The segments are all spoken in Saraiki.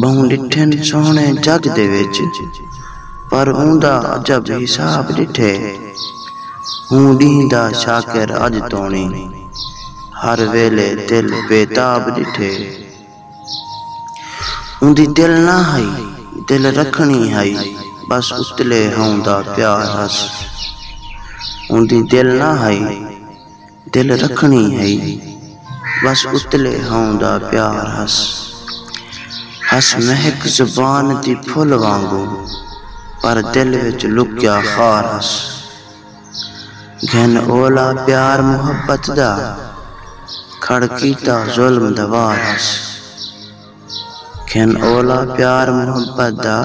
ٻہوں ݙٹھن سوہݨے جڳ دے وچ پر اوندا عجب حساب ݙٹھے ہوں ݙینہہ دا شاکر اڄ توݨی ہر ویلے دل بے تاب ݙٹھے اوندی دل نہ ہئی دل رکھݨی ہئی بس اتلے ہاؤندا پیار ہس اوندی دل نہ ہئی دل رکھݨی ہئی بس اتلے ہاؤں دا پیار ہس۔ ہس مہک زبان دی پھل وانگوں پر دل وچ لکیا خار ہس۔ گھن اولا پیار محبت دا کھڑ کیتا ظلم دا وار ہس۔ کھن اولا پیار محبت دا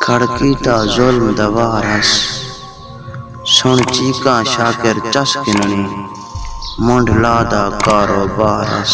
کھڑ کیتا ظلم دا وار ہس سݨ چیکاں شاکر چس گھنݨی منڈھ لا دا کاروبار ہس۔